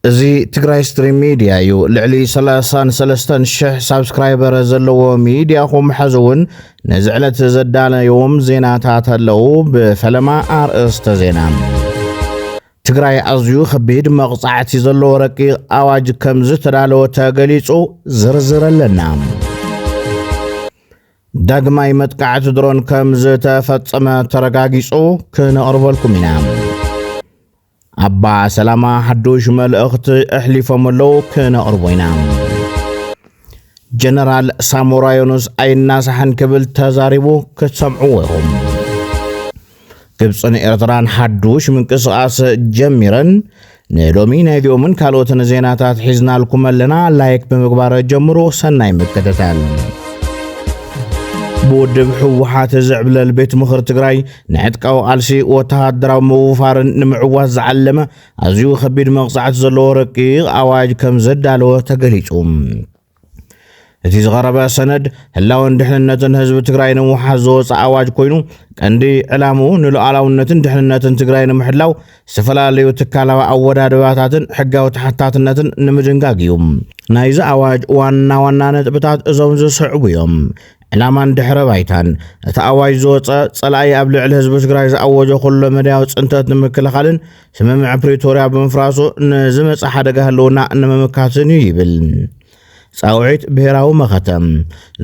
እዚ ትግራይ ስትሪም ሚድያ እዩ ልዕሊ 33 ሽሕ ሳብስክራይበር ዘለዎ ሚድያኹም ሕዚ እውን ነዚ ዕለት ዘዳለዮም ዜናታት ኣለዉ ብፈለማ ኣርእስተ ዜና ትግራይ ኣዝዩ ከቢድ መቕጻዕቲ ዘለዎ ረቂቕ ኣዋጅ ከም ዝተዳለወ ተገሊጹ ዝርዝር ኣለና ዳግማይ መጥቃዕቲ ድሮን ከም ዝተፈጸመ ተረጋጊጹ ክነቕርበልኩም ኢና። ኣባ ሰላማ ሓዱሽ መልእኽቲ ኣሕሊፎም ኣለዉ ክነቕርቦ ኢና። ጀነራል ሳሞራ ዮኑስ ኣይናሳሕን ክብል ተዛሪቡ ክትሰምዕዎ ኢኹም ግብፅን ኤርትራን ሓዱሽ ምንቅስቓስ ጀሚረን ንሎሚ ናይ ዲኦምን ካልኦትን ዜናታት ሒዝናልኩም ኣለና ላይክ ብምግባር ጀምሩ ሰናይ ምክትታል ብውድብ ህወሓት ዝዕብለል ቤት ምኽሪ ትግራይ ንዕጥቃዊ ቃልሲ ወተሃደራዊ ምውፋርን ንምዕዋት ዝዓለመ ኣዝዩ ከቢድ መቕጻዕቲ ዘለዎ ረቂቕ ኣዋጅ ከም ዘዳለወ ተገሊጹ እቲ ዝቐረበ ሰነድ ህላወን ድሕንነትን ህዝቢ ትግራይ ንምውሓስ ዝወፀ ኣዋጅ ኮይኑ ቀንዲ ዕላምኡ ንሉኣላውነትን ድሕንነትን ትግራይ ንምሕላው ዝተፈላለዩ ትካላዊ ኣወዳድባታትን ሕጋዊ ተሓታትነትን ንምድንጋግ እዩ። ናይዚ ኣዋጅ ዋና ዋና ነጥብታት እዞም ዝስዕቡ እዮም። ዕላማን ድሕረ ባይታን እቲ ኣዋጅ ዝወፀ ፀላኢ ኣብ ልዕሊ ህዝቢ ትግራይ ዝኣወጆ ኩሎ መዳያዊ ፅንተት ንምክልኻልን ስምምዕ ፕሪቶርያ ብምፍራሱ ንዝመፀ ሓደጋ ህልውና ንምምካትን እዩ ይብል ፃውዒት ብሄራዊ መኸተ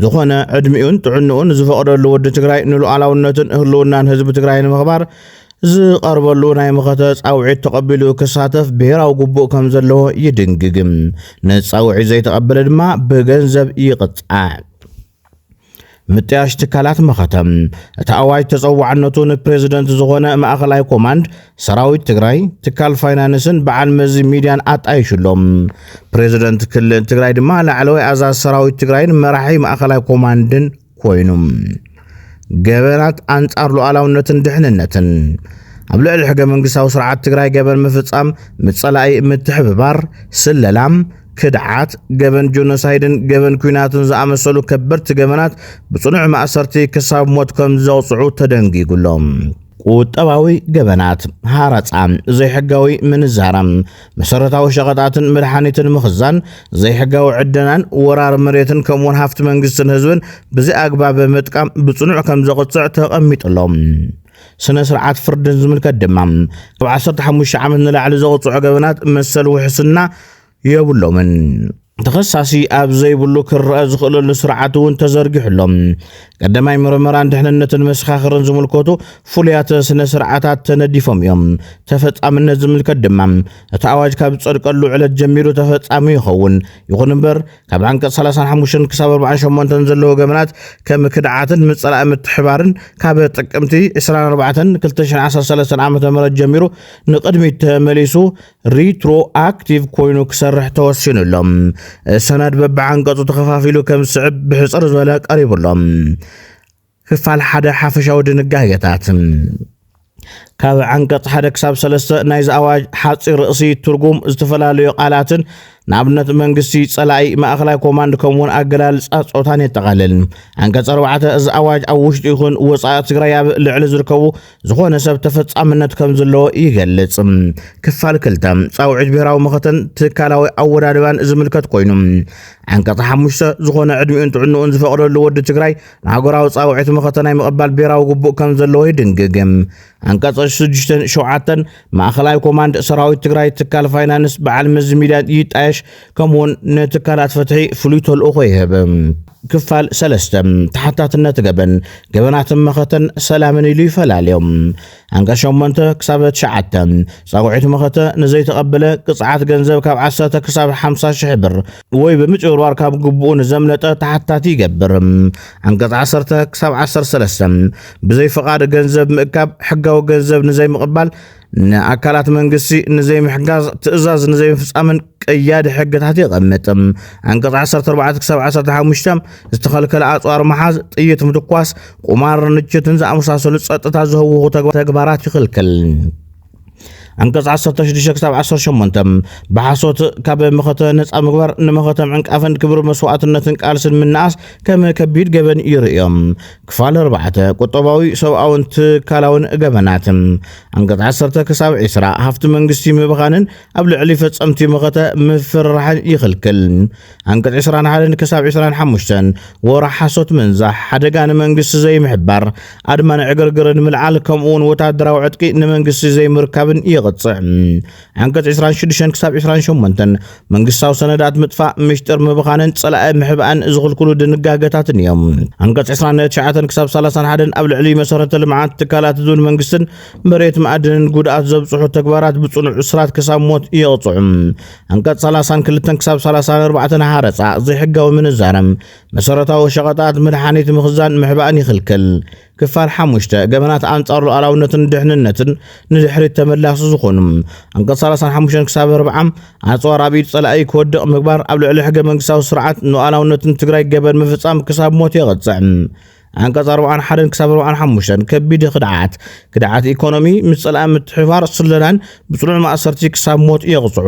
ዝኾነ ዕድሚኡን ጥዕንኡን ዝፈቕደሉ ወዲ ትግራይ ንሉዓላውነትን ህልውናን ህዝቢ ትግራይ ንምኽባር ዝቐርበሉ ናይ መኸተ ፃውዒት ተቐቢሉ ክሳተፍ ብሄራዊ ግቡእ ከም ዘለዎ ይድንግግም ንፃውዒት ዘይተቐበለ ድማ ብገንዘብ ይቕፃዕ ምጥያሽ ትካላት መኸተ እቲ ኣዋጅ ተፀዋዕነቱ ንፕሬዚደንት ዝኾነ ማእኸላይ ኮማንድ ሰራዊት ትግራይ ትካል ፋይናንስን በዓል መዚ ሚድያን ኣጣይሽሎም ፕሬዚደንት ክልል ትግራይ ድማ ላዕለዋይ ኣዛዝ ሰራዊት ትግራይን መራሒ ማእኸላይ ኮማንድን ኮይኑ ገበናት ኣንጻር ሉዓላውነትን ድሕንነትን ኣብ ልዕሊ ሕገ መንግስታዊ ስርዓት ትግራይ ገበን ምፍጻም፣ ምጸላኢ ምትሕብባር፣ ስለላም፣ ክድዓት፣ ገበን ጆኖሳይድን ገበን ኩናትን ዝኣመሰሉ ከበድቲ ገበናት ብጽኑዕ ማእሰርቲ ክሳብ ሞት ከም ዘቕጽዑ ተደንጊጉ ኣሎ። ቁጠባዊ ገበናት፣ ሃረጻ፣ ዘይሕጋዊ ምንዛራ፣ መሰረታዊ ሸቐጣትን መድሓኒትን ምኽዛን፣ ዘይሕጋዊ ዕደናን ወራር መሬትን ከምኡውን ሃፍቲ መንግስትን ህዝብን ብዘይ ኣግባብ ምጥቃም ብጽኑዕ ከም ዘቕጽዕ ተቐሚጡ ኣሎ። ስነ ስርዓት ፍርድን ዝምልከት ድማ ካብ 15 ዓመት ንላዕሊ ዘቕጽዑ ገበናት መሰል ውሕስና የብሎምን። ተኸሳሲ ኣብ ዘይብሉ ክረኣ ዝኽእለሉ ስርዓት እውን ተዘርጊሑ ኣሎ። ቀዳማይ ምርመራን ድሕንነትን መሰኻኽርን ዝምልከቱ ፍሉያት ስነ ስርዓታት ተነዲፎም እዮም። ተፈጻምነት ዝምልከት ድማ እቲ ኣዋጅ ካብ ዝጸድቀሉ ዕለት ጀሚሩ ተፈጻሚ ይኸውን። ይኹን እምበር ካብ ዓንቀጽ 35 ክሳብ 48 ዘለዎ ገበናት ከም ክድዓትን ምጽራእ ምትሕባርን ካብ ጥቅምቲ 24 2013 ዓ.ም ጀሚሩ ንቅድሚት ተመሊሱ ሪትሮ ኣክቲቭ ኮይኑ ክሰርሕ ተወሲኑ ኣሎ። ሰነድ በብዓንቀጹ ተኸፋፊሉ ከም ዝስዕብ ብሕጽር ዝበለ ቀሪቡ ኣሎ። ክፋል ሓደ ሓፈሻዊ ድንጋጌታት ካብ ዓንቀጽ ሓደ ክሳብ ሰለስተ ናይዚ ኣዋጅ ሓፂር ርእሲ ትርጉም ዝተፈላለዩ ቃላትን ንኣብነት መንግስቲ ጸላኢ ማእኸላይ ኮማንድ ከምኡውን ኣገላልጻ ጾታን የጠቓልል። ዓንቀጽ ኣርባዕተ እዚ ኣዋጅ ኣብ ውሽጢ ይኹን ወፃኢ ትግራይ ኣብ ልዕሊ ዝርከቡ ዝኾነ ሰብ ተፈጻምነት ከም ዘለዎ ይገልጽ። ክፋል ክልተ ጻውዒት ብሔራዊ መኸተን ትካላዊ ኣወዳድባን ዝምልከት ኮይኑ ዓንቀጽ ሓሙሽተ ዝኾነ ዕድሚኡን ጥዕንኡን ዝፈቕደሉ ወዲ ትግራይ ንሃገራዊ ጻውዒት መኸተ ናይ ምቕባል ብሔራዊ ግቡእ ከም ዘለዎ ይድንግግ። ዓንቀጽ ሽዱሽተን ሸውዓተን ማእኸላይ ኮማንድ ሰራዊት ትግራይ ትካል ፋይናንስ በዓል መዚ ሚድያ ይጣየሽ ከምኡውን ንትካላት ፍትሒ ፍሉይ ተልእኾ ይህብ። ክፋል ሰለስተ፣ ተሓታትነት ገበን፣ ገበናትን መኸተን ሰላምን ኢሉ ይፈላልዮም። ዓንቀፅ ሸሞንተ ክሳብ ትሽዓተ፣ ፃውዒት መኸተ ንዘይተቐበለ ቅፅዓት ገንዘብ ካብ ዓሰርተ ክሳብ ሓምሳ ሽሕ ብር ወይ ብምጭብርባር ካብ ግቡኡ ንዘምለጠ ተሓታቲ ይገብር። ዓንቀፅ ዓሰርተ ክሳብ ዓሰርተ ሰለስተ፣ ብዘይ ፍቓድ ገንዘብ ምእካብ፣ ሕጋዊ ገንዘብ ንዘይምቕባል፣ ንኣካላት መንግስቲ ንዘይምሕጋዝ ትእዛዝ ንዘይምፍጻምን ቀያዲ ሕግታት የቐምጥ። ዓንቀጽ 14 ክሳብ 15 ዝተኸልከለ ኣጽዋር መሓዝ፣ ጥይት ምትኳስ፣ ቁማር፣ ንችትን ዝኣመሳሰሉ ጸጥታ ዝህውኹ ተግባራት ይኽልክል። ዓንቀጽ 16 ክሳብ 18 ብሓሶት ካብ መኸተ ነፃ ምግባር ንመኸተ ምዕንቃፍን ክብሪ መስዋእትነትን ቃልስን ምንኣስ ከም ከቢድ ገበን ይርእዮም። ክፋል ኣርባዕተ፣ ቁጠባዊ፣ ሰብኣውን ትካላውን ገበናት፣ ኣንቀጽ ዓሰርተ ክሳብ ዕስራ፣ ሃፍቲ መንግስቲ ምብኻንን ኣብ ልዕሊ ፈጸምቲ መኸተ ምፍርራሕን ይኽልክል። ኣንቀጽ ዕስራን ሓደን ክሳብ ዕስራን ሓሙሽተን፣ ወረ፣ ሓሶት ምንዛሕ፣ ሓደጋ ንመንግስቲ ዘይምሕባር፣ ኣድማን ዕግርግርን ምልዓል ከምኡ'ውን ወተሃደራዊ ዕጥቂ ንመንግስቲ ዘይምርካብን የቕጽዕ። ዓንቀጽ 26 ክሳብ 28 መንግስታዊ ሰነዳት ምጥፋእ ምሽጥር ምብኻንን ጸላኢ ምሕባእን ዝኽልክሉ ድንጋገታትን እዮም። ዓንቀጽ 29 ክሳብ 31 ኣብ ልዕሊ መሰረተ ልምዓት ትካላት ህዝብን መንግስትን መሬት ማዕድንን ጉድኣት ዘብጽሑ ተግባራት ብጽኑዕ እስራት ክሳብ ሞት የቕጽዑ። ዓንቀጽ 32 ክሳብ 34 ሃረጻ፣ ዘይሕጋዊ ምንዛረ፣ መሰረታዊ ሸቐጣት፣ መድሓኒት ምኽዛን ምሕባእን ይኽልክል። ክፋል ሓሙሽተ፣ ገበናት ኣንጻር ሉኣላውነትን ድሕንነትን ንድሕሪት ተመላሲ ዝኾኑ፣ ኣንቀጽ ሰላሳን ሓሙሽተን ክሳብ ኣርብዓ፣ ኣጽዋር ኣብ ኢድ ጸላኢ ክወድቕ ምግባር ኣብ ልዕሊ ሕገ መንግስታዊ ስርዓትን ሉኣላውነትን ትግራይ ገበን ምፍጻም ክሳብ ሞት የቕጽዕ። ኣንቀጽ ኣርብዓን ሓደን ክሳብ ኣርብዓን ሓሙሽተን፣ ከቢድ ክድዓት፣ ክድዓት ኢኮኖሚ፣ ምጽላእ፣ ምትሕብባር፣ ስለላን ብጽኑዕ ማእሰርቲ ክሳብ ሞት የቕጽዑ።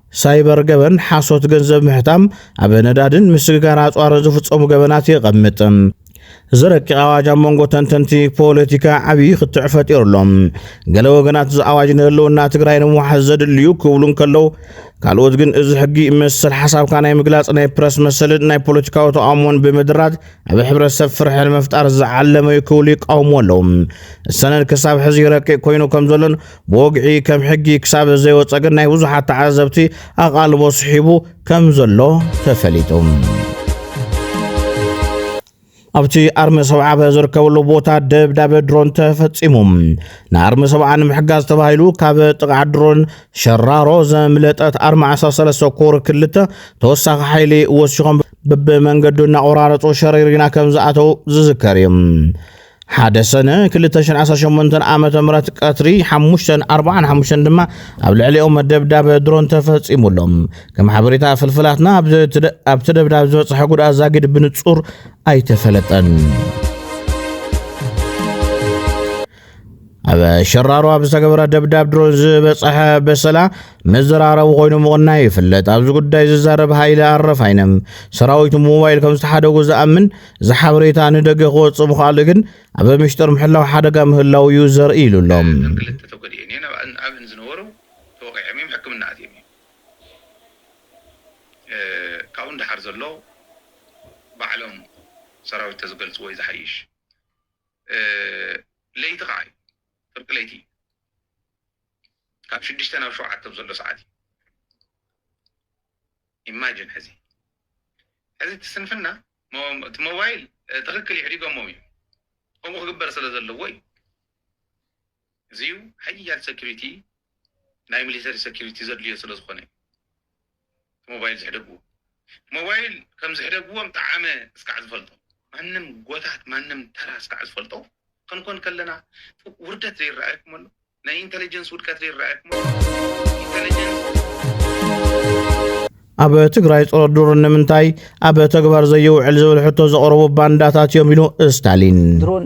ሳይበር ገበን ሓሶት ገንዘብ ምሕታም ኣብ ነዳድን ምስግጋር ኣፅዋርን ዝፍፀሙ ገበናት የቐምጥ። እዚ ረቂቕ ኣዋጅ ኣብ መንጎ ተንተንቲ ፖለቲካ ዓብዪ ክትዕ ፈጢሩ ኣሎ። ገለ ወገናት እዚ ኣዋጅ ንህልውና ትግራይ ንምውሓስ ዘድልዩ ክብሉ እንከለው፣ ካልኦት ግን እዚ ሕጊ መሰል ሓሳብካ ናይ ምግላፅ ናይ ፕረስ መሰልን ናይ ፖለቲካዊ ተቓውሞን ብምድራት ኣብ ሕብረተሰብ ፍርሒ ንምፍጣር ዝዓለመ እዩ ክብሉ ይቃውሙ ኣለው። ሰነድ ክሳብ ሕዚ ረቂቕ ኮይኑ ከም ዘሎን ብወግዒ ከም ሕጊ ክሳብ ዘይወፀ ግን ናይ ብዙሓት ተዓዘብቲ ኣቓልቦ ስሒቡ ከም ዘሎ ተፈሊጡ። ኣብቲ ኣርሚ ሰብዓበ ዝርከበሉ ቦታ ደብዳበ ድሮን ተፈጺሙ ንኣርሚ ሰብዓ ንምሕጋዝ ተባሂሉ ካብ ጥቕዓ ድሮን ሸራሮ ዘምለጠት ኣርሚ 13 ኮር ክልተ ተወሳኺ ሓይሊ ወሲኾም ብብመንገዱ እናቆራረፁ ሸሪሪና ከም ዝኣተው ዝዝከር እዩ ሓደ ሰነ ክልተ ሽሕን ዓሰርተ ሸሞንተን ዓመተ ምህረት ቀትሪ ሓሙሽተን ኣርብዓን ሓሙሽተን ድማ ኣብ ልዕሊኦም ደብዳብ ድሮን ተፈጺሙ ኣሎ። ከም ሓበሬታ ፍልፍላትና ኣብዚ ትደ- ኣብቲ ደብዳብ ዝበጽሐ ጉድኣት ዛጊድ ብንጹር ኣይተፈለጠን። ኣብ ሸራሮ ኣብ ዝተገበረ ደብዳብ ድሮን ዝበፀሐ በሰላ መዘራረቢ ኮይኑ ምቕናዩ ይፍለጥ። ኣብዚ ጉዳይ ዝዛረብ ሃይለ ኣረፋይነ ሰራዊቱ ሞባይል ከም ዝተሓደጉ ዝኣምን እዚ ሓበሬታ ንደገ ክወፅእ ምኽኣሉ ግን ኣብ ምሽጥር ምሕላው ሓደጋ ምህላው እዩ ዘርኢ ኢሉ ኣሎ። ክልተ ተጎዲኤን እየን ኣብእን ዝነበሩ ተወቒዖም እዮም ሕክምና ኣትዮም እዮም ካብኡ ንደሓር ዘሎ ባዕሎም ሰራዊት ተዝገልፅዎ እዩ ዝሓይሽ። ለይቲ ከዓ እዩ ፍርቂ ለይቲ እዩ ካብ ሽዱሽተ ናብ ሸውዓተ ዘሎ ሰዓት እዩ ኢማጅን ሕዚ ሕዚ እቲ ስንፍና እቲ ሞባይል ትክክል ይዕዲጎሞም እዩ ከምኡ ክግበር ስለ ዘለዎ እዩ እዚዩ ሓያል ሰኪሪቲ ናይ ሚሊተሪ ሰኪሪቲ ዘድልዮ ስለ ዝኮነ እዩ ሞባይል ዝሕደግዎ ሞባይል ከም ዝሕደግዎም ጠዓመ እስካዕ ዝፈልጦ ማንም ጎታት ማንም ተራ እስካዕ ዝፈልጦ ክንኮን ከለና ውርደት ዘይረኣየኩም ኣሎ ናይ ኢንተለጀንስ ውድቀት ዘይረኣየኩም ኣሎ ኢንተለጀንስ ኣብ ትግራይ ፀረ ዱር ንምንታይ ኣብ ተግባር ዘይውዕል ዝብል ሕቶ ዘቕረቡ ባንዳታት እዮም ኢሉ ስታሊን ድሮን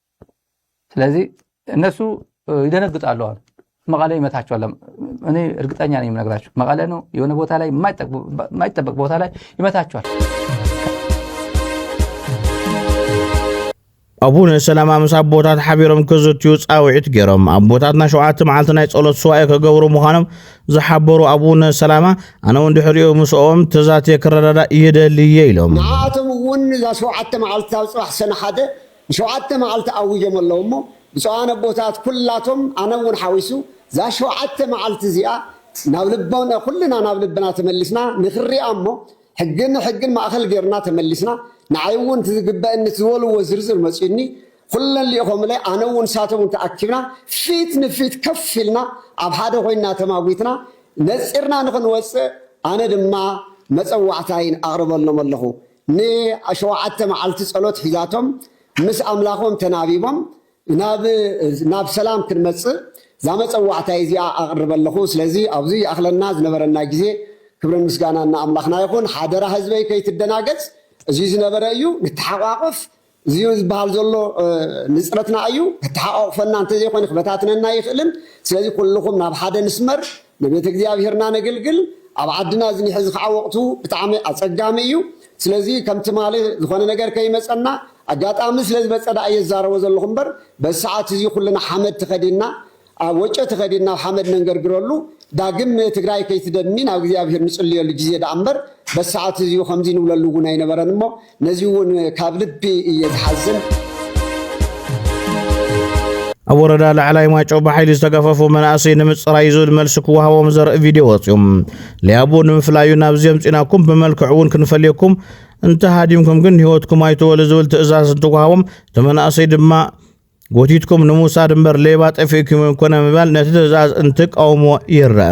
ስለዚህ እነሱ ይደነግጣሉ። አሁን መቀለ ይመታቸዋል። እኔ እርግጠኛ ነኝ የምነግራቸው መቀለ ነው። የሆነ ቦታ ላይ የማይጠበቅ ቦታ ላይ ይመታቸዋል። ኣቡነ ሰላማ ምስ ኣቦታት ሓቢሮም ክዝትዩ ፃውዒት ገይሮም ኣቦታትና ሸውዓተ መዓልቲ ናይ ጸሎት ስዋኤ ከገብሩ ምዃኖም ዝሓበሩ ኣቡነ ሰላማ ኣነ እውን ድሕሪኡ ምስኦም ተዛትየ ክረዳዳእ ይደልየ ኢሎም ንዓቶም እውን እዛ ሸውዓተ መዓልቲ ኣብ ፅባሕ ሰነ ሓደ ንሸውዓተ መዓልቲ ኣዊጆም ኣለዉ እሞ ብፁዓን ኣቦታት ኩላቶም ኣነ እውን ሓዊሱ እዛ ሸውዓተ መዓልቲ እዚኣ ናብ ልቦና ኩልና ናብ ልብና ተመሊስና ንክሪኣ እሞ ሕጊ ንሕጊ ማእኸል ገይርና ተመሊስና ንዓይ እውን እቲ ዝግበእኒ እቲ ዝበልዎ ዝርዝር መፅዩኒ ኩለን ሊኢኾምለይ ኣነ እውን ንሳቶም እውን ተኣኪብና ፊት ንፊት ከፍ ኢልና ኣብ ሓደ ኮይንና ተማጒትና ነፂርና ንክንወፅእ ኣነ ድማ መፀዋዕታይን ኣቕርበሎም ኣለኹ ን ሸውዓተ መዓልቲ ጸሎት ሒዛቶም ምስ ኣምላኾም ተናቢቦም ናብ ናብ ሰላም ክንመጽእ እዛ መጸዋዕታይ እዚኣ ኣቕርብ ኣለኹ ስለዚ ኣብዚ ይኣኽለና ዝነበረና ግዜ ክብርን ምስጋናን ንኣምላኽና ይኹን ሓደራ ህዝበይ ከይትደናገጽ እዚ ዝነበረ እዩ ንተሓቛቖፍ እዚዩ ዝበሃል ዘሎ ንጽረትና ኣዩ ከተሓቃቁፈና እንተዘይኮነ ክበታትነና ኣይኽእልን ስለዚ ኩሉኹም ናብ ሓደ ንስመር ንቤተ እግዚኣብሔርና ነግልግል ኣብ ዓድና እዚ ሕዚ ከዓ ወቅቱ ብጣዕሚ ኣጸጋሚ እዩ ስለዚ ከም ትማሊ ዝኾነ ነገር ከይመጸና ኣጋጣሚ ስለዝመጸ ደኣ እየ ዝዛረቦ ዘለኹ እምበር በዚ ሰዓት እዚ ኩልና ሓመድ ተኸዲንና ኣብ ወጨቲ ከዲና ኣብ ሓመድ ነንገርግረሉ ዳግም ትግራይ ከይትደሚ ናብ እግዚኣብሔር ንፅልየሉ ጊዜ ደኣ እምበር በዚ ሰዓት እዚዩ ከምዚ ንብለሉ እውን ኣይነበረን እሞ ነዚ እውን ካብ ልቢ እየ ዝሓዝን። ኣብ ወረዳ ላዕላይ ማጮ ብሓይሊ ዝተገፈፉ መናእሰይ ንምፅራይ ዝብል መልሲ ክወሃቦም ዘርኢ ቪድዮ ወፅዩ ሊያቡ ንምፍላዩ ናብዚ ኣምፂናኩም ብመልክዕ እውን ክንፈልየኩም እንተሃዲምኩም ግን ህይወትኩም ኣይትወሉ ዝብል ትእዛዝ እንትወሃቦም እቲ መናእሰይ ድማ ጎቲትኩም ንምውሳድ እምበር ሌባ ጠፊእኩም እዮም ኮነ ምባል ነቲ ትእዛዝ እንትቃውሞ ይረአ።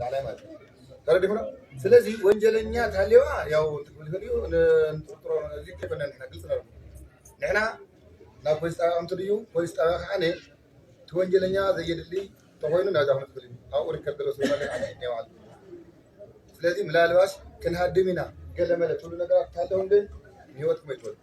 ላላይ ማለት እዩ ተረዲኹና ስለዚ ወንጀለኛ ተሃልየዋ ያው ትብል ይኽእል እዩ ንጥርጥሮ እዚ ከይኮነ ንሕና ግልፂ ነሩ ንሕና ናብ ፖሊስ ጣብያ ከምቲ ድዩ ፖሊስ ጣብያ ከዓ ነ እቲ ወንጀለኛ ዘየድሊ ተኮይኑ ናብዛ ክምትብል እዩ ኣብኡ ርከብ ዘሎ ስለ ዓነ ናይ ባዕሉ ስለዚ ምላልባሽ ክንሃድም ኢና ገለ መለ ትብሉ ነገራት እንተሃለውን ግን ንሂወትኩም ኣይትወዱ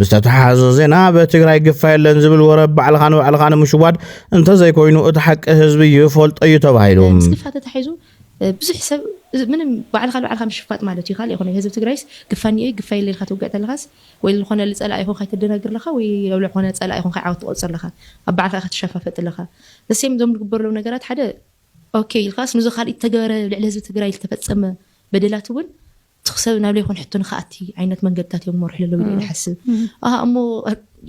ብዝተተሓሓዘ ዜና ኣብ ትግራይ ግፋ የለን ዝብል ወረ ባዕልኻ ንባዕልኻ ንምሽዋድ እንተዘይኮይኑ እቲ ሓቂ ህዝቢ ይፈልጦ እዩ ተባሂሉ ምስ ግፋ ተታሒዙ ብዙሕ ሰብ ምንም ባዕልካ ንባዕልካ ምሽፋጥ ማለት እዩ ካልእ ይኮነ ህዝቢ ትግራይስ ግፋ እኒኦ እዩ ግፋ የለ ኢልካ ትውግዕ ተለኻስ ወይ ዝኾነ ፀላኢ ይኹን ከይተደናግር ኣለካ ወይ ኣብ ዝኾነ ፀላኢ ይኹን ከይዓወት ትቆፅር ኣለካ ኣብ ባዕልካ ኢኻ ትሸፋፈጥ ኣለካ ዘሴም እዞም ዝግበሩ ዘለዉ ነገራት ሓደ ኦኬ ኢልካስ ንዞ ካልኢት ዝተገበረ ኣብ ልዕሊ ህዝቢ ትግራይ ዝተፈፀመ በደላት እውን እቲ ክሰብ ናብ ለይኮን ሕቶ ንክኣቲ ዓይነት መንገድታት እዮም መርሑ ለለው ኢለ ሓስብ ኣሃ እሞ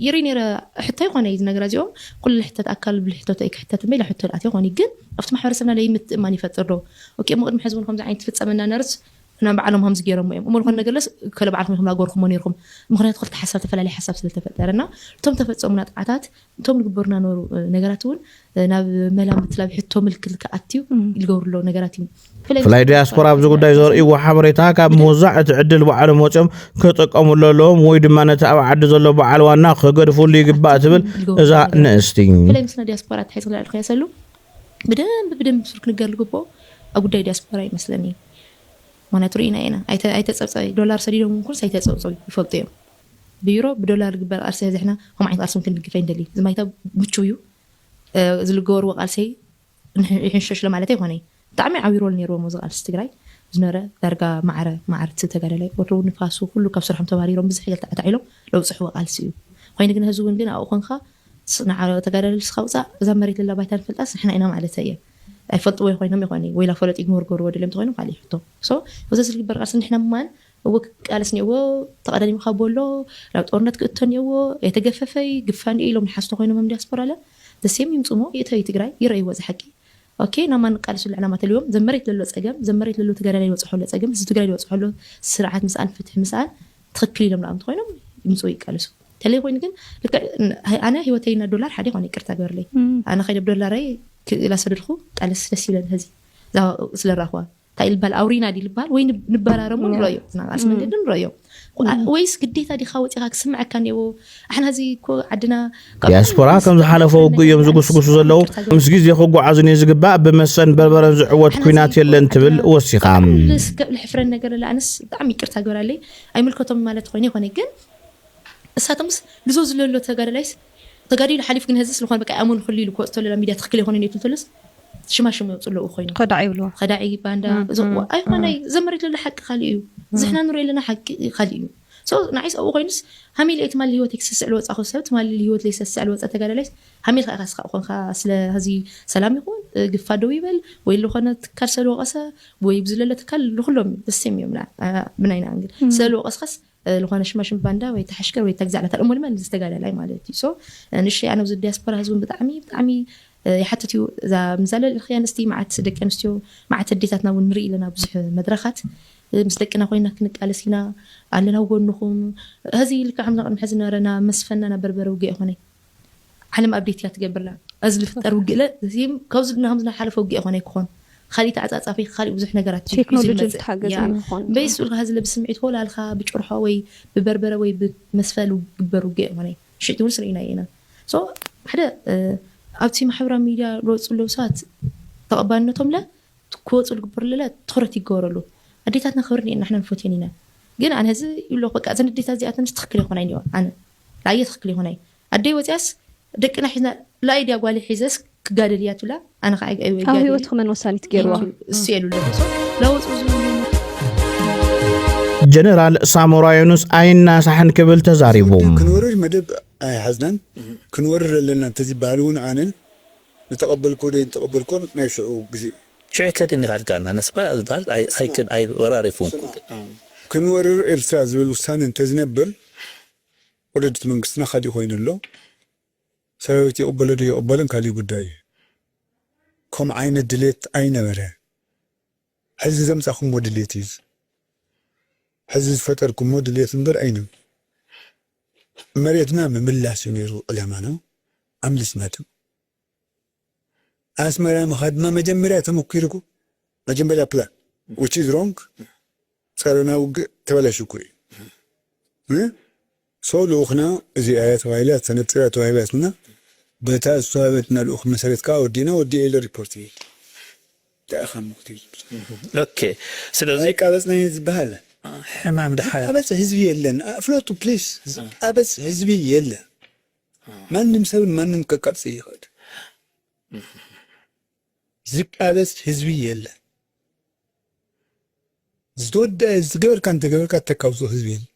ይርኢ ነረ ሕቶ ይኮነ እዩ ነገራ እዚኦም ኩሉ ሕተት ኣካል ብልሕተቶ እዩ ክሕተት እምበይ ሕቶ ልኣት ይኮን እዩ ግን ኣብቲ ማሕበረሰብና ለይ ምትእማን ይፈጥር ዶ ኦኬ እሞ ቅድሚ ሕዚ እውን ከምዚ ዓይነት ፍፀመና ነርስ ሕና ባዕሎም ከምዚ ገይሮሞ እዮም እሞ ዝኾነ ነገርለስ ከለ ባዕልኩም ኢኹም ናጎርኩሞ ነርኩም ምክንያቱ ክልተ ሓሳብ ተፈላለየ ሓሳብ ስለተፈጠረ እና እቶም ተፈፀሙ ናጥዓታት እቶም ልግበሩ ናነበሩ ነገራት እውን ናብ መላምት ናብ ሕቶ ምልክት ክኣትዩ ልገብሩ ኣለዉ ነገራት እዩ። ፍላይ ዲያስፖራ ኣብዚ ጉዳይ ዘርእይዎ ሓበሬታ ካብ ምውዛዕ እቲ ዕድል ባዕሎም ወፂኦም ክጥቀምሉ ኣለዎም ወይ ድማ ነቲ ኣብ ዓዲ ዘሎ በዓል ዋና ክገድፍሉ ይግባእ ትብል እዛ ንእስቲ። ፍላይ ምስና ዲያስፖራ ኣተሓሒዙ ክንርኣ ንክያሰሉ ብደንቢ ብደንቢ ብሱር ክንገር ልግብኦ ኣብ ጉዳይ ዲያስፖራ እዩ መስለኒ። ምክንያቱ ርኢና ኢና ኣይተፀብፀቢ ዶላር ሰዲዶም ኩንስ ኣይተፀብፀቢ ይፈልጡ እዮም። ብዩሮ ብዶላር ዝግበር ቃልሲ ሕዚ ሕና ከምኡ ዓይነት ቃልሲ እውን ክንድግፍ ኣይንደልይን። እዚ ማይታ ምቹው እዩ። ዝልገበርዎ ቃልሰይ ይሕንሸሽለ ማለት ኣይኮነይ። ብጣዕሚ ዓብይ ሮል ነይርዎም ኣብዚ ቃልሲ ትግራይ ዝነበረ ዳርጋ ማዕረ ማዕረ እቲ ተጋዳላይ ወትሩ ንፋሱ ኩሉ ካብ ስርሖም ተባሪሮም ብዝሕ ገል ተዕታዕ ኢሎም ለውፅሕዎ ቃልሲ እዩ። ኮይኑ ግን ሕዚ እውን ግን ኣብኡ ኮንካ ንዓ ተጋዳላይ ልስኻ ውፃእ እዛ መሬት ለላ ባይታ ንፈልጣስ ንሕና ኢና ማለተይ እየ። ኣይፈልጥዎይ ኮይኖም ይኾነይ ወይላ ፈለጡ ይግሞርጎርዎ ደልዮም ተኾይኖም ካሊእ ሕቶ። So እዚ ዝግበር ቃልሲ ንሕና ምማን እወ ክቃለስ እኒኦዎ ተቀዳዲምካ ቦሎ ናብ ጦርነት ክእቶ እኒኦዎ ኣይተገፈፈይ ግፋ እንዲዩ ኢሎም ልሓሱ ተኮይኖምም ዲያስፖራ ለ ዘሴም ይምፁ እሞ ይእተዩ ትግራይ ይረእይዎ እዛ ሓቂ ኦኬ ናብ ማን ንቃለሱሉ ዕላማ ተልዎም ዘብ መሬት ለሎ ፀገም ዘብ መሬት ለሎ ተጋዳላይ ልበፅሖ ኣሎ ፀገም ህዝቢ ትግራይ ልበፅሖ ኣሎ ስርዓት ምስኣን ፍትሒ ምስኣን ትክክል ኢሎም ልኣም ተኮይኖም ይምፁ ይቃለሱ ተለይ ኮይኑ ግን ልክዕ ኣነ ህይወተይ እና ዶላር ሓደ ይኮነ ይቅርታ ገበርለይ ኣነ ከይደ ብዶላረይ ላሰደድኩ ቃለስ ደስ ይብለን ህዚ ስለ ራክዋ እንታይ ልባል ኣውሪና ዲ ልባል ወይ ንበራረሙ ንረዮ ዝናቃልሲ መንገዲ ንረዮ ወይስ ግዴታ ዲኻ ወፂኻ ክስምዐካ እኒዎ ኣሕና እዚ እኮ ዓድና ዲያስፖራ ከም ዝሓለፈ ውግእ እዮም ዝጉስጉሱ ዘለዉ ምስ ግዜ ክጓዓዙን እዩ ዝግባእ ብመሰን በርበረን ዝዕወት ኩናት የለን ትብል ወሲኻ ልስከዕ ልሕፍረን ነገር ኣለ ኣነስ ብጣዕሚ ይቅርታ ግበራለይ ኣይምልከቶም ማለት ኮይኑ ይኮነ ግን እሳቶምስ ልዞ ዝለሎ ተጋዳላይስ ተጋዲሉ ሓሊፉ ግን ሀዚ ስልኾነ በቃ ኣይኣመኑ ክሉ ኢሉ ክወፅ ተሎ ናብ ሚድያ ትኽክል ኣይኾነን ኢሉ ተሎስ ሽማ ሽም የውፅእ ኣለዉ ኮይኑ ከዳዕ ይብልዎ ከዳዕ ባንዳ እዞም ኣይኾነ ዘ መሬት ለሎ ሓቂ ካሊእ እዩ ዝሕና ንሪኦ ኣለና ሓቂ ካሊእ እዩ ሰው ንዓይስ ኣብኡ ኮይኑስ ሃሚለ እቲ ማሊ ህይወት ክሰስዕ ልወፃኹ ሰብ ትማሊ ህይወት ለይሰስዕ ልወፀ ተጋዳላይ ሃሚል ኢኻ ስኻ ኮንካ ስለ ህዚ ሰላም ይኹን ግፋ ደው ይበል ወይ ዝኾነ ትካል ሰለ ወቐሰ ወይ ብዝለለ ትካል ንኩሎም እዩ ደሴም እዮም ብናይና እንግል ስለ ልወቐስኻስ ልኾነ ሽማሽም ባንዳ ወይ ተሐሽከር ወይ ተግዛዕ ናታ እሞ ድማ ንዚ ተጋዳላይ ማለት እዩ so ንእሽተይ ኣነ እዚ ዲያስፖራ ህዝቢ ብጣዕሚ ብጣዕሚ ይሓትት እዩ እዛ ምዛ ልልእኽያ ኣንስቲ መዓት ደቂ ኣንስትዮ መዓት ኣዴታትና እውን ንርኢ ኣለና ብዙሕ መድረኻት ምስ ደቅና ኮይና ክንቃለስ ኢና ኣለና ኣብ ጎንኹም ሀዚ ልክዕ ከምዛ ቅድሚ ሐዚ ዝነበረና መስፈናና በርበረ ውግእ ኣይኾነይ ዓለም ኣብዴት እያ ትገብር ዘላ እዚ ዝፍጠር ውግእለ እዚም ካብዚ ናከምዚ ናይ ሓለፈ ውግእ ኣይኮነይ ክኾን ኻሊእ ተዓጻጻፊ ኻሊእ ብዙሕ ነገራት እዩ እዩ ቴክኖሎጂ ዝመጽእ ዝተሓገዘ ያ እዩ ክኾን እምበይስ ዝብል ሱልካ ሀዝለ ብስምዒት ሆላ እልካ ብጭርሖ ወይ ብበርበረ ወይ ብመስፈል ውግበር ውግእ ኣይኮነይ ሽዕቲ ውንስ ርኢናዮ ኢና so ሓደ ኣብቲ ማሕበራዊ ሚድያ ልወጹ ለዉ ሰባት ተቐባልነቶምለ ክወጹ ልግበርሉለ ትኹረት ይገበረሉ ኣዴታትና ክብረን እየን ናሕና ንፎትየን ኢና ግን ኣነ እዚ ይብለኹ በቃ እዘን ኣዴታት እዚኣተንስ ትኽክል ኣይኮናይን እዮ ኣነ ኣየ ትክክል ይኩነይ ኣደይ ወፅያስ ደቅና ሒዝና ላኣይ ድያ ጓለይ ሒዘስ ክጋደል እያ ትብላ ኣነ ከዓ ኣብ ኣይወይ ጋደሊ ህይወትኹ መን ወሳኒት ገይርዋ ኢኪ እሱ የሉ ኣለኩ ሶ ላወፅኡ ዝብሉ ጀነራል ሳሞራ ዮኑስ ኣይናሳሕን ክብል ተዛሪቡ። ውድብ ክንወርር መደብ ኣይሓዝናን ክንወርር ኣለና እንተዝበሃል እውን ኣነ ዝተቐበልክዎ ዘይተቐበልክዎን ናይ ሽዑ ግዜ እዩ። ሽዑ ከደን ይሃድጋ ኣላ ነስባ ዝበሃል ኣይክን ኣይ ወራር ኣይኮንኩን። ክንወርር ኤርትራ ዝብል ውሳነ እንተዝነብር ወለዲ እቲ መንግስትና ካሊእ ኮይኑ ኣሎ ሰራዊት ይቅበሎ ዶ የቅበልን ካሊእ ጉዳይ እዩ ከምኡ ዓይነት ድሌት ኣይነበረ ሕዚ ዘምጻኩሞ ድሌት እዩ ሕዚ ዝፈጠርኩሞ ድሌት እምበር ኣይነ መሬትና ምምላስ እዩ ነይሩ ዕላማና ኣምሊስና ድም ኣስመራ ምኻድ ድማ መጀመርያ ተመኲሩኩ መጀመርያ ፕላን which is wrong ጸረና ውግእ ተበላሽኩ እዩ እ so ልኡኽና እዚኣ እያ ተባሂላ ተነጺራ ተዋሂባትና በታ ዝተዋህበትና ልኡኽ መሰረት ከኣ ወዲእና ወዲኤ ኢለ ሪፖርት እየ እንታይ ኢኻ እሞ ክትብል ኦኬ ስለዚ ኣይቃበጽናን እዩ ዝበሃል ሕማም ድሓር ዝቃበጽ ህዝቢ የለን ፍለጡ ፕሊስ ዝቃበጽ ህዝቢ የለን ማንም ሰብ ንማንም ከቃጽል ይኽእል። ዝቃለስ ህዝቢ የለን። ዝተወደኣ ዝገበርካ እንተገበርካ እተካውፆ ህዝቢ የለን።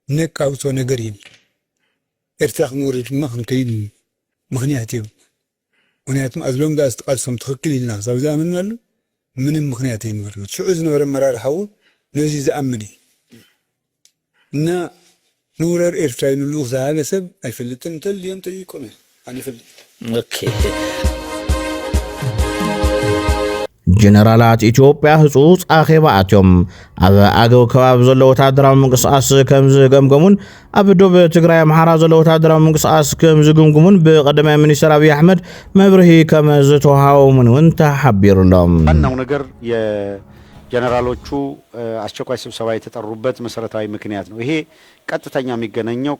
ነቃውፆ ነገር የለን። ኤርትራ ክንወርድ ድማ ክንከይድ ምክንያት የብሉ። ምክንያቱም as long as እቲ ቃልሶም ትክክል ኢልና ክሳብ ዝኣመንናሉ ምንም ምክንያት ኣይነበረን እቲ ሽዑ ዝነበረ ኣመራርሓ እውን ነዙይ ዝኣምን እዩ እና ንውረር ኤርትራ ኢሉሉ ዝሃለ ሰብ ኣይፈልጥን እንተልዮም ጠይቆም እዮም ኣነ ይፈልጥ። ጀነራላት ኢትዮጵያ ህጹጽ ኣኼባ ኣትዮም ኣብ ኣገው ከባቢ ዘሎ ወተሃደራዊ ምንቅስቓስ ከም ዝገምገሙን ኣብ ዶብ ትግራይ ኣምሓራ ዘሎ ወተሃደራዊ ምንቅስቓስ ከም ዝግምግሙን ብቀዳማይ ሚኒስትር ኣብይ ኣሕመድ መብርሂ ከም ዝተውሃቦምን እውን ተሓቢሩሎም። ዋናው ነገር የጀነራሎቹ አስቸኳይ ስብሰባ የተጠሩበት መሰረታዊ ምክንያት ነው። ይሄ ቀጥተኛ የሚገናኘው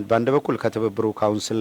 በአንድ በኩል ከትብብሩ ካውንስል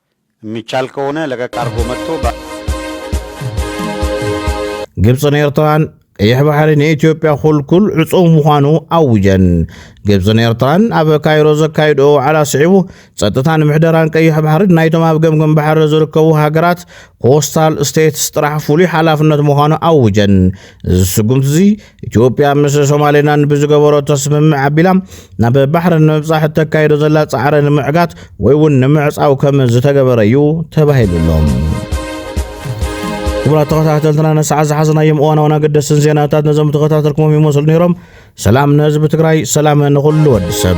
የሚቻል ከሆነ ለቀቅ አድርጎ መጥቶ ግብፅን ኤርትራን ቀይሕ ባሕሪ ንኢትዮጵያ ኩልኩል ዕፁው ምዃኑ ኣውጀን ግብፅን ኤርትራን ኣብ ካይሮ ዘካይድኦ ዋዕላ ስዒቡ ጸጥታን ምሕደራን ቀይሕ ባሕሪ ናይቶም ኣብ ገምገም ባሕሪ ዝርከቡ ሃገራት ኮስታል ስቴትስ ጥራሕ ፍሉይ ሓላፍነት ምዃኑ ኣውጀን እዚ ስጉምቲ እዚ ኢትዮጵያ ምስ ሶማሌላንድ ብዝገበረቶ ስምምዕ ኣቢላ ናብ ባሕሪ ንምብጻሕ እተካይዶ ዘላ ጻዕሪ ንምዕጋት ወይ እውን ንምዕጻው ከም ዝተገበረ እዩ ተባሂሉ ኣሎ። ክቡራት ተኸታተልትና ንሰዓት ዝሓዝናዮም እዋናውን ኣገደስትን ዜናታት ነዞም ተኸታተልኩሞም ይመስሉ ነይሮም። ሰላም ንህዝቢ ትግራይ፣ ሰላም ንኹሉ ወዲ ሰብ።